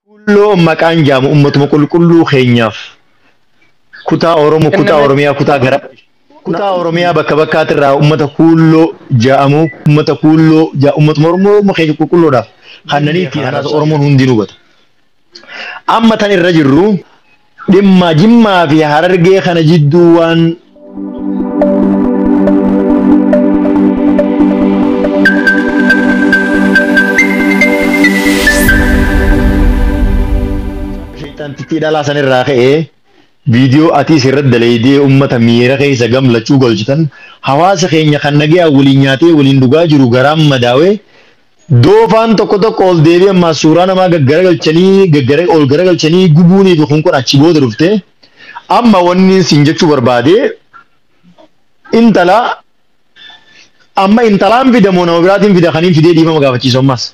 Kuulloo maqaan jaamu ummatuma qulqulluu keenyaaf kutaa Oromoo Kan kutaa namatti Oromiyaa kutaa gara kutaa Oromiyaa bakka bakkaatirraa ummata kuulloo ja'amu ummata kuulloo ja ummatuma Oromoo Oromoo keenya qulqulloodhaaf kannanii ittiin haadhaasa Oromoon hundi ni hubata. Amma tan irra jirru Dhimma Jimmaa fi Harargee kana jidduu waan sheexantittii dhalaa san irraa ka'ee viidiyoo atiis irratti daleeydee ummata miira keessa gamlachuu galchitan hawaasa keenya kan nagayaan waliin nyaatee waliin dhugaa jiru garaan madaawee Doofaan tokko tokko ol deebii ammaa suuraa namaa gaggaragalchanii gaggara ol garagalchanii gubuunii fi kun kun achi booda dhufte amma wanni siin jechuu barbaade intala amma intalaan fida moo nama biraatiin fida kaniin fidee dhiifama gaafachiisu ammaas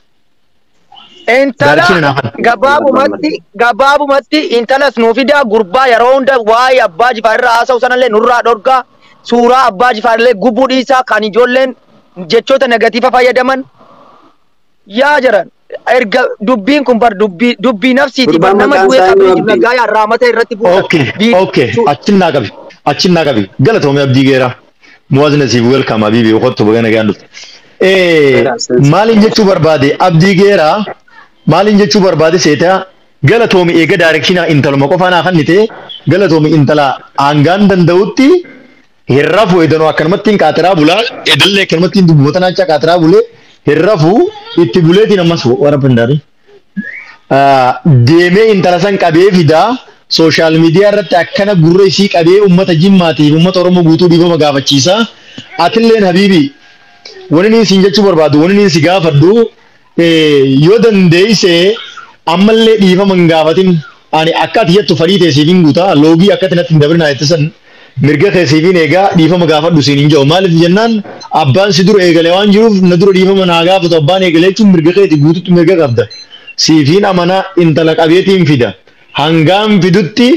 Intala Daarikina naaf kenna. gabaabumatti gabaabumatti intalas nuu fidaa gurbaa yeroo hunda waa'ee abbaa jifaar irraa haasa'u sanallee nurraa dhorgaa suuraa abbaa jifaar illee gubuu dhiisaa kan ijoolleen jechoota negatiifa fayyadaman yaa jiran erga dubbiin kun bar dubbii dubbii nafsiiti bar Gurbaan nama maqaan du'ee isaa qabrii eenyu jiru Abdii? nagaa yaa raamata irratti buusan Okay, Bii- okay. su- Achin naa qabi. Achin naa qabi. Galatoomi abdii geeraa. Muwaazina siif welcome habiibi kottu baga nagaan dhufte. Eh, maaliin jechuu barbaade abdii geeraa maaliin jechuu barbaade seetaa galatoomi eega daarekshinaa intaluma qofaa naa kannite galatoomi intala hangaan danda'utti Hin rafu edanoo akkanumattiin qaatiraa bulaa edallee akkanumattiin dubboota naachaa qaatiraa bulee hin rafu itti buleetiin ammas warra pindaari. Deemee intala san qabee fidaa sooshaal miidiyaa irratti akkana gurra isii qabee uummata jimmaatiif uummata oromoo guutuu dhiifama gaafachiisaa atilleen habiibii wani niin siin jechuu barbaadu wani niin si gaafadhu Yoo dandeeyse ammallee dhiifama hin gaafatin. Ani akka ati jettu fadhii tee siif hin guuta. Loogii akka ati natti hin dabrinaa jette san mirga kee siif hin eega. Dhiifama gaafadhu siin hin jedhu. Maaliif jennaan abbaan si dura eegale waan jiruuf na dura dhiifama naa gaafatu abbaan eegale jechuun mirga keeti guututti mirga qabda. Siif hin amana intala qabeetiin fida. Hangaan fidutti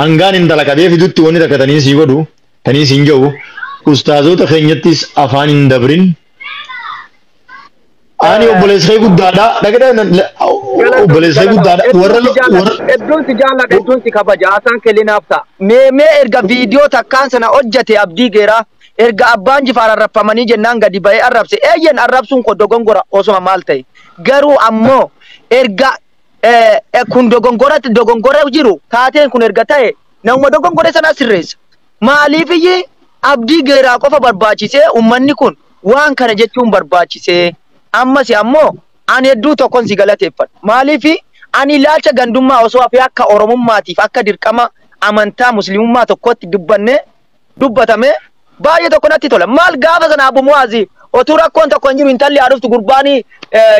hangaan intala qabee fidutti wanni takka taniin sii godhu taniin siin jedhu ustaazoota keenyattis afaan hin dabrin. Ani obboleessa kee guddaadha. Dhaqee obboleessa kee guddaadha. Warra warra Hedduun si jaalladha, hedduun si kabaja. Haasaan kee linaaf ta'a. Mee mee erga viidiyoo takkaan sana hojjete abdii geeraa erga abbaan jifaar arrabfamanii jennaan gadi ba'ee arrabse eeyyen arrabsuun koo dogongora osoma maal ta'e garuu ammoo erga eh, eh, kun dogongora dogongora jiru taateen kun erga ta'e nama dogongore sana sirreessa. Maaliifiyyi abdii geeraa qofa barbaachisee ummanni kun waan kana jechuun barbaachisee? Ammasi ammoo ani hedduu tokkon si galateeffadha. Maaliifi ani ilaalcha gandummaa osoo hafee akka Oromummaatiif akka dirqama amantaa Muslimummaa tokkootti dubbannee dubbatamee baay'ee tokko natti tola. Maal gaafa sana Abu Mu'aazi otuu rakkoon tokko hin jiru intalli haa dhuftu gurbaani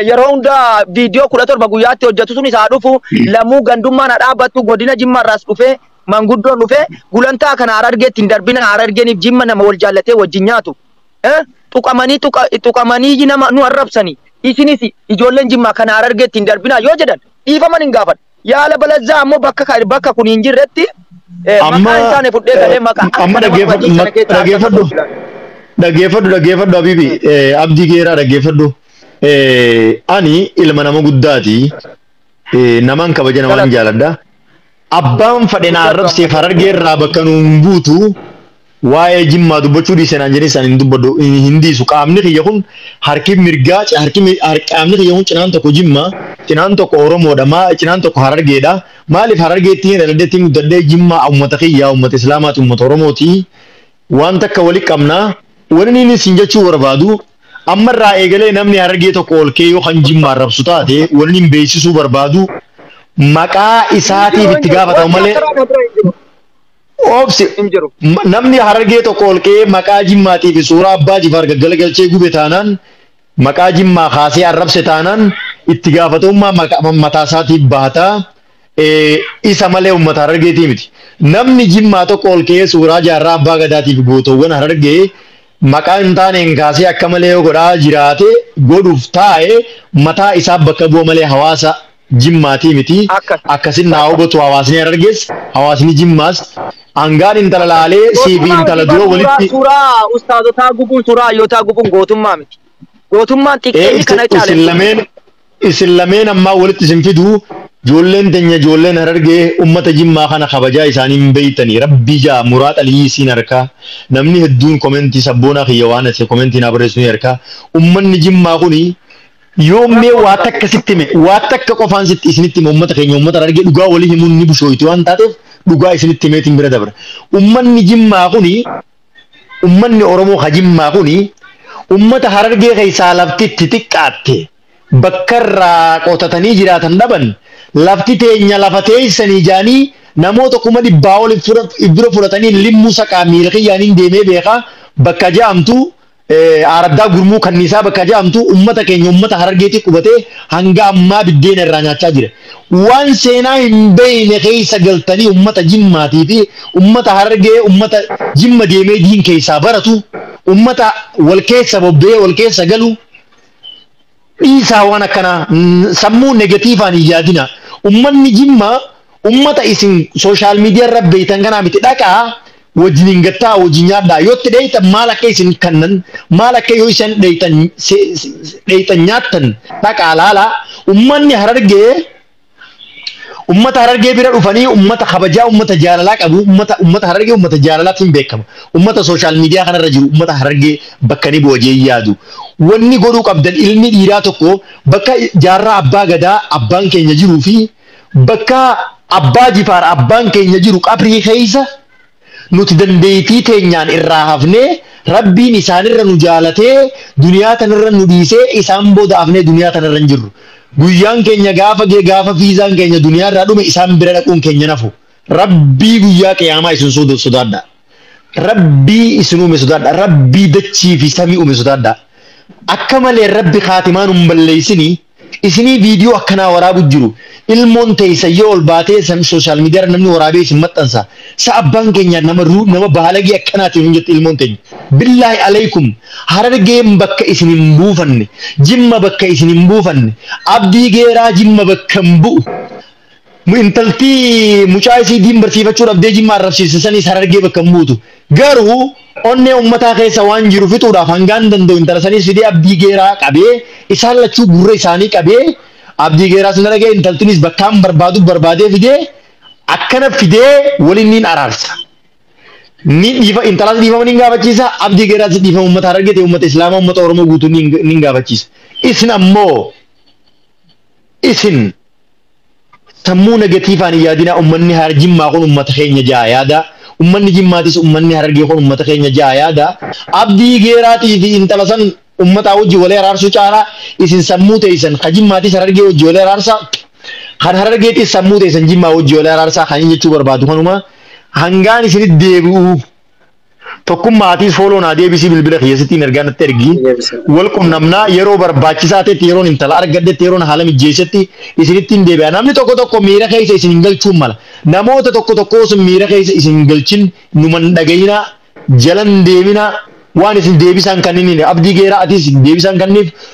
yeroo hunda viidiyoo kudha torba guyyaatti hojjetu sunis haa dhufu lamuu gandummaan haa dhaabbattu godina Jimmaarraas dhufee manguddoon dhufee gulantaa kana Harargeetti hin darbina Harargeeniif Jimma nama wal jaallatee wajjin nyaatu eh, tuqamanii tuqa, tuqamanii nama nu arrabsanii isinis ijoolleen Jimmaa kana Harargeetti hin darbinaa yoo jedhan dhiifaman hin gaafadhu. Yaala balazzaa ammoo bakka ka- bakka kun hin jirretti eh, Amma maqaa hin taane fudhee galee maqaa akka amma nama dhaggeeffadhu hojii sana keessaa akka dhaggeeffadhu tokkotti ilaalu. dhaggeeffadhu dhaggeeffadhu Habibi eh, Abdii Geeraa dhaggeeffadhu Eh, ani ilma nama guddaati Eh, namaan kabaja namaan Galata. jaaladha Abbaan fadhe na arrabseef Harargee irraa bakka nu hin buutu, waa'ee Jimmaa dubbachuu dhiise naan jedhee san hin dubbadhu, hin dhiisu. Qaamni kiyya kun harki mirgaa, harki qaamni kiyya kun cinaan tokko Jimmaa, cinaan tokko Oromoodha, maa cinaan tokko Harargeedha. Maaliif Harargeetti dhaladhee itti guddadhee Jimmaa uummata kiyya, uummata Islaamaati, uummata Oromooti. Waan takka wali qabna. Wanni inni isin jechuu barbaadu. Amma irraa eegalee namni Harargee tokko ol ka'ee yoo kan Jimmaa arrabsu taate wanni hin beeksisuu barbaadu maqaa Hin isaatiif jiru, hin itti jiru. gaafatamu Wanti malee akkanaa na bira hin jiru. obsi Hin jiru. m- namni Harargee tokko ol ka'ee maqaa Jimmaatii fi suuraa Abbaa Jifaar gaggalagalchee gube taanaan maqaa Jimmaa kaasee arrabse taanaan itti gaafatamummaa maqa- ma- mataa isaatiif baata. Eh, Isa malee uummata Harargeetii miti. Namni Jimmaa tokko ol ka'ee suuraa jaarraa Abbaa Gadaatii fi gootowwan Harargee maqaa hin taaneen kaasee akka malee yoo godhaa jiraate, godhuuf taa'e, mataa isaaf bakka bu'a malee hawaasa Jimmaatii miti. Akkas. Akkasin naa hubatu hawaasni Harargees, hawaasni Jimmaas. Hangaan intala laalee siifi Gootummaa intala miti dura bar suuraa walitti suuraa ustaazotaa gubuun suuraa hayyootaa gubuun gootummaa miti. Gootummaan ee xiqqeenyi kana isin, isin caale. lameen Isin lameen ammaa walitti isin fidu joolleen tenya joolleen harargee ummata jimmaa kana kabajaa isaanii hin beeytani rabbii jaa muraat aliyyii isiin arkaa namni hedduun komentii sabboonaa kiyya waan ase komentii naa barreessu ni arkaa ummanni jimmaa kuni yoom mee waa takka sitti hime waa takka qofaan sitti isinitti hime ummata keenya ummata harargee dhugaa walii himuun ni bushooyti waan taateef dhugaa isinitti himeetiin bira dabra ummanni jimmaa kuni Ummanni Oromoo ka Jimmaa kuni ummata Harargee keessaa lafti itti xiqqaatte, bakka irraa qotatanii jiraatan dhaban, lafti teenya lafa teessanii jedhanii namoota kuma dhibbaa ol if dura fudhatanii Limmuu Saqaa miila kiyyaanin deemee beeka bakka jedhamtu Aaraddaa Gurmuu Kanniisaa bakka jedhamtu ummata keenya ummata Harargeetii qubatee hanga ammaa biddeena irraa nyaachaa jira. Waan seenaa hin beeyne keessa galtanii ummata Jimmaatii fi ummata Harargee ummata Jimma deemee diin keessaa baratu, ummata wal keessa bobba'ee wal keessa galu, dhiisaa waan akkanaa n- sammuu negatiivaan hin yaadina ummanni jimma ummata isin sooshaal miidiyaa irra beeytan kanaa miti dhaqaa wajjin hin gattaa wajjin nyaadhaa yoo itti dheeytan maal akka isin kannan maal akka yoo isin dheeytan se- se- dheeytan nyaattan dhaqaa laalaa ummanni harargee Ummata Harargee bira dhufanii ummata kabajaa, ummata jaalalaa qabu, ummata ummata Harargee ummata jaalalaatiin beekama. Ummata sooshaal miidiyaa kanarra jiru ummata Harargee bakka ni bu'a jee yaadu. Wanni godhuu qabdan ilmi dhiiraa tokko bakka jaarraa abbaa gadaa abbaan keenya jiruu fi bakka abbaa jifaar abbaan keenya jiru qabrii keessa Nuti dandeeytii teenyaan irraa hafnee Rabbiin isaanirra nu jaalatee duniyaa tanarra nu dhiisee isaan booda hafnee duniyaa tanarra hin jirru. Guyyaan keenya gaafa gee gaafa fiizaan keenya duniyaarraa dhume isaan bira dhaquun keenya hin hafu. Rabbii guyyaa qiyaamaa isin suudu sodaadhaa. Rabbii isin uume sodaadhaa. Rabbii dachii fi samii uume sodaadhaa. Akka malee Rabbi khaatimaa nun balleeysinii. Isinii video akkanaa waraabu jiru ilmoon teeysan yoo ol baatee san social media irra namni waraabee isin maxxansa sa abbaan keenyaa nama ru nama baalagee akkanaati nuun jette ilmoon teenya billaahi aleeykum harargeen bakka isin hin buufanne jimma bakka isin hin buufanne abdii geeraa jimma bakka hin bu'u intaltii mucaa isii diin barsiifachuu dhabdee jimma arrabsiifte saniis harargee bakka hin buutu. Garuu onnee ummataa keessa waan jiru fixuudhaaf hangaan danda'u intala saniis fidee abdii geeraa qabee isaan lachuu gurra isaanii qabee abdii geeraas na dhaga'e intaltinis bakkaan barbaadu barbaadee fidee akkana fidee waliin niin araarsa. Ni dhiifa intalaas dhiifama niin gaafachiisa abdii geeraas dhiifama ummata harargee ta'e ummata islaamaa ummata oromoo guutuu niin niin gaafachiisa. Isin ammoo Isin sammuu negatiivaan hin yaadinaa ummanni Harar Jimmaa kun ummata keenya ja'a yaada ummanni Jimmaatis ummanni Harargee kun ummata keenya ja'a yaada Abdii Geeraatii fi intala san ummataa wajji wali araarsuu caalaa isin sammuu teeysan ka Jimmaatis Harargee wajji wali araarsaa kan Harargeetis sammuu teeysan Jimmaa wajji wali araarsaa kan inni jechuu barbaadu kanuma hangaan isinitti deebi'u Tokkummaa atiis fooloo naa deebisii bilbila kiyya sittiin ergaa natti ergi. Wal qunnamnaa yeroo barbaachisaa ta'etti yeroon intala argadhetti yeroon haala mijjeessetti isinittiin deebi'a. Namni tokko tokko miira keessa isin hin galchuun mala. Namoota tokko tokko osoo miira keessa isin hin galchin numa hin dhagayinaa jala hin deeminaa waan isin deebisaan kanninii abdii geeraa atiis deebisaan kanniif